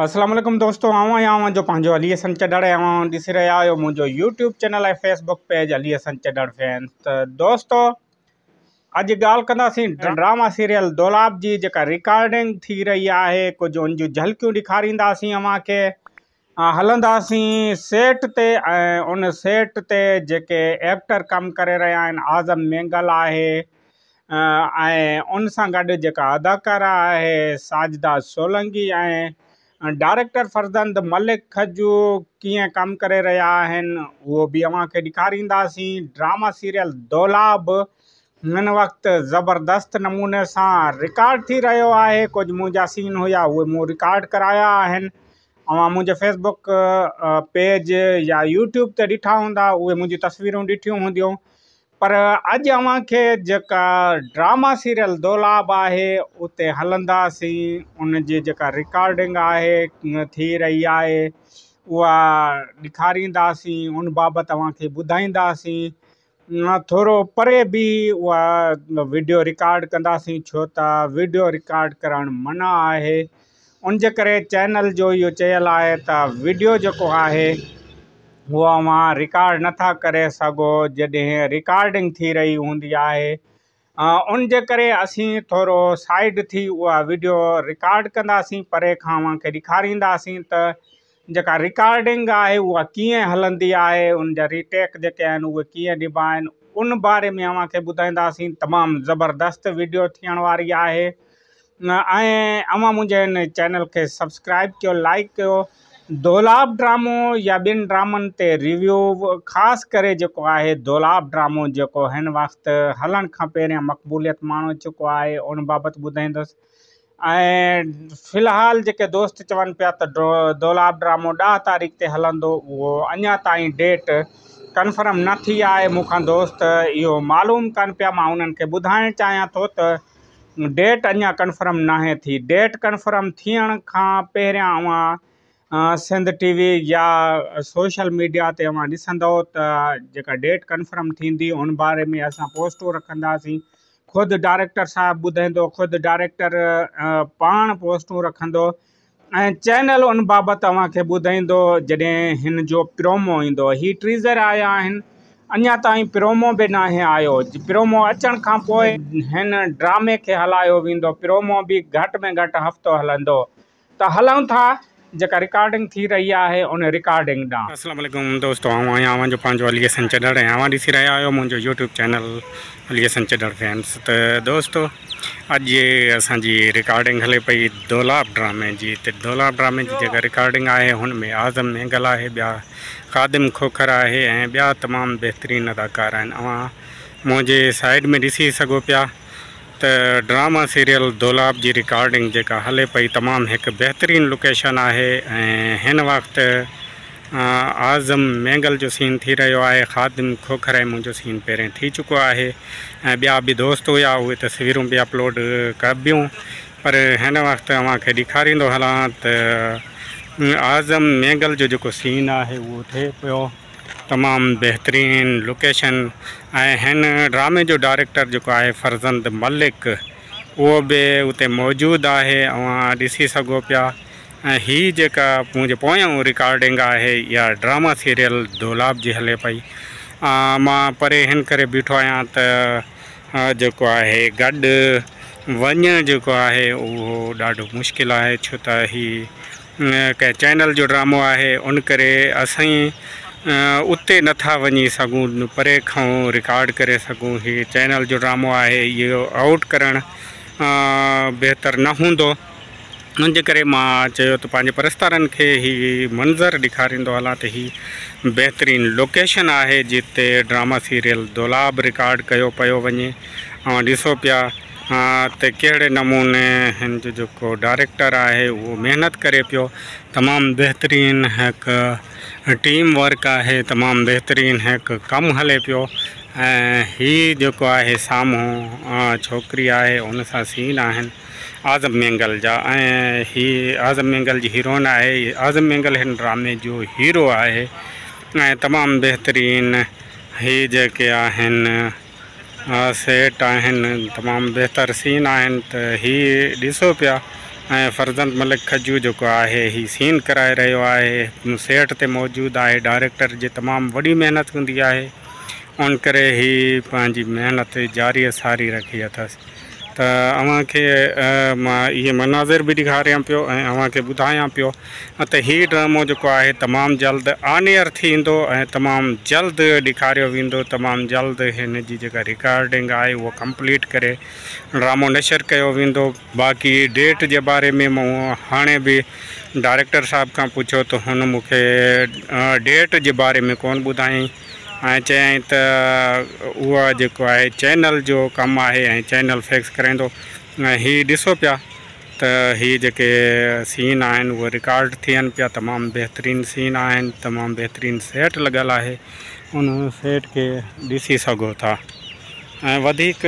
السلام عليڪم دوستو آئون آهيان اوهان جو پنهنجو علي حسن چڏڙ ۽ اوهان ڏسي رهيا آهيو منهنجو YouTube channel ۽ Facebook page Ali Hassan Chhadar fan ته دوستو اڄ ڳالهه ڪنداسين ڊراما سيريل دولاب جي جيڪا ريڪارڊنگ ٿي رهي آهي ڪجهه ان جون جھلڪيون ڏيکارينداسين اوهان کي هلنداسين سيٽ تي ۽ ان سيٽ تي جيڪي ايڪٽر ڪم ڪري رهيا آهن اعظم مينگل آهي ۽ ان سان گڏ جيڪا اداڪارا آهي ساجده سولنگي ۽ ڊائريڪٽر فرزند ملڪ کجو ڪيئن ڪم ڪري رهيا آهن اهو به اوهان کي ڏيکارينداسين ڊراما سيريل دولا به هن وقت زبردست نموني سان رڪارڊ ٿي رهيو آهي ڪجهه منهنجا سين هيا اهي مون رڪارڊ ڪرايا آهن اوهان منهنجي فيس بڪ پيج يا يوٽيوب تي ڏٺا هوندا اهي منهنجي تصويرون ڏٺيون هونديون پر اڄ اوهان کي جيڪا ڊراما سيريل دولاب آهي اتي هلنداسين ان جي جيڪا رڪارڊنگ آهي ٿي رهي آهي اها ڏيکارينداسين ان بابت اوهان کي ٻڌائينداسين ٿورو پري به اها وڊيو رڪارڊ ڪنداسين ڇو ته وڊيو رڪارڊ ڪرڻ منع آهي ان جي ڪري چينل جو اهو چيل آهي ته وڊيو جيڪو آهي هو اوهان رڪارڊ نه ٿا ڪري سگهو جڏهن رڪارڊنگ ٿي رهي هوندي آهي ان جي ڪري اسين ٿورو سائيڊ ٿي اها وڊيو رڪارڊ ڪنداسين پري کان اوهان کي ڏيکارينداسين ته جيڪا رڪارڊنگ آهي اها ڪيئن هلندي آهي ان جا ريٽيڪ جيڪي آهن اهي ڪيئن ڏبا آهن ان باري ۾ اوهان کي ٻڌائينداسين تمام زبردست ويڊيو ٿيڻ واري آهي ۽ اوهان منهنجي ان چينل کي سبسڪرائب ڪيو لائڪ ڪيو دولاب ڊرامو يا ٻين ڊرامن تي ريويو خاص ڪري جيڪو آهي دولاب ڊرامو جيڪو هن وقت هلڻ کان پهريان مقبوليت ماڻو چڪو آهي ان بابت ٻڌائيندس ۽ في الحال جيڪي دوست چون پيا ته دولاب ڊرامو ڏهه تاريخ تي هلندو اهو اڃا تائين ڊيٽ ڪنفرم نه ٿي آهي مون کان دوست اهو معلوم ڪن پيا مان انهن کي ٻڌائڻ چاهيان ٿو ته ڊيٽ اڃا ڪنفرم ناهي ٿي ڊيٽ ڪنفرم ٿيڻ کان پهريان اوهان سنڌ ٽي وي يا سوشل ميڊيا تي اوهان ڏسندو ته جيڪا ڊيٽ ڪنفرم ٿيندي ان باري ۾ اسان پوسٽون رکنداسين خود ڊائريڪٽر صاحب ٻڌائيندو، خود ڊائريڪٽر پاڻ پوسٽون رکندو ۽ چينل ان بابت اوهان کي ٻڌائيندو جڏهن هن جو پرومو ايندو. هي ٽيزر آيا آهن، اڃا تائين پرومو به ناهي آيو، پرومو اچڻ کان پوء هن ڊرامي کي هلايو ويندو، پرومو به گهٽ ۾ گهٽ هفتو هلندو، ته هلون ٿا جيڪا رڪارڊنگ ٿي رهي آهي ان رڪارڊنگ ڏانهن. اسلام عليڪم دوستو آئون آهيان اوهان جو پنهنجو علي حسن چڏڙ ۽ اوهان ڏسي رهيا آهيو منهنجو YouTube channel Ali Hassan Chhadar famous ته دوستو اڄ جي اسان جي رڪارڊنگ هلي پئي دولاب ڊرامي جي ته دولاب ڊرامي جي جيڪا رڪارڊنگ آهي هن ۾ اعظم مينگل آهي ٻيا خادم کوکر آهي ۽ ٻيا تمام بهترين اداڪار آهن اوهان منهنجي سائيڊ ۾ ڏسي سگهو پيا ته ڊراما سيريل دولاب جي رڪارڊنگ جيڪا هلي پئي تمام هڪ بهترين لوڪيشن آهي ۽ هن وقت اعظم مينگل جو سين ٿي رهيو آهي خادم کوکر ۽ منهنجو سين پهرين ٿي چڪو آهي ۽ ٻيا به دوست هيا اهي تصويرون به اپلوڊ ڪبيون پر هن وقت اوهان کي ڏيکاريندو هلان ته اعظم مينگل جو جيڪو سين آهي اهو ٿئي پيو تمام بهترين لوڪيشن ۽ هن ڊرامي جو ڊائريڪٽر جيڪو آهي فرزند ملڪ اهو به اتي موجود آهي اوهان ڏسي سگهو پيا ۽ هي جيڪا منهنجي پويان رڪارڊنگ آهي اها ڊراما سيريل دولاب جي هلي پئي مان پري هن ڪري بيٺو آهيان ته جيڪو آهي گڏ وڃڻ جيڪو آهي اهو ڏاڍو مشڪل آهي ڇو ته هي ڪنهن چينل جو ڊرامو آهي ان ڪري اسين اتي نٿا وڃي سگهون پري کان رڪارڊ ڪري سگهون هي چينل جو ڊرامو آهي اهو آئوٽ ڪرڻ بهتر نه هوندو ان جي ڪري مان چيو ته پنهنجي پرستارن کي هي منظر ڏيکاريندو هلان ته هي بهترين لوڪيشن آهي جتي ڊراما سيريل دولاب رڪارڊ ڪيو پيو وڃي اوهان ڏسو پيا ها ته ڪهڙي نموني هن جو جيڪو ڊائريڪٽر آهي اهو محنت ڪري پيو تمام بهترين هيڪ ٽيم ورڪ آهي تمام بهترين هيڪ ڪم هلي پيو ۽ هي جيڪو آهي سامهون ڇوڪري آهي ان سان سين آهن اعظم مينگل جا ۽ هي اعظم مينگل جي هيروئن آهي اعظم مينگل هن ڊرامي جو هيرو آهي ۽ تمام بهترين هي جيڪي آهن ها سيٽ آهن تمام بهتر سين آهن ته هي ڏسو پيا ۽ فرزند ملڪ کجو جيڪو آهي هي سين ڪرائي رهيو آهي سيٽ تي موجود آهي ڊائريڪٽر جي تمام وڏي محنت هوندي آهي ان ڪري هي پنهنجي محنت جاري ساري رکي اٿس ته اوهان کي مان اهي مناظر به ڏيکاريان پيو ۽ اوهان کي ٻڌايان پيو ته هي ڊرامو جيڪو آهي تمام جلد آن ايئر ٿيندو ۽ تمام جلد ڏيکاريو ويندو تمام جلد هن جي جيڪا رڪارڊنگ آهي اهو ڪمپليٽ ڪري ڊرامو نشر ڪيو ويندو باقي ڊيٽ جي باري ۾ مون هاڻي به ڊائريڪٽر صاحب کان پڇيو ته هن مون کي ڊيٽ جي باري ۾ ڪون ٻڌايائين ۽ چيائين ته اهو جيڪو آهي چينل جو ڪم آهي ۽ چينل فيڪس ڪرائيندو ۽ هي ڏسو پيا ته هي جيڪي سين آهن اهي رڪارڊ ٿين پيا تمام بهترين سين آهن تمام بهترين سيٽ لڳل آهي ان سيٽ کي ڏسي سگهو ٿا ۽ وڌيڪ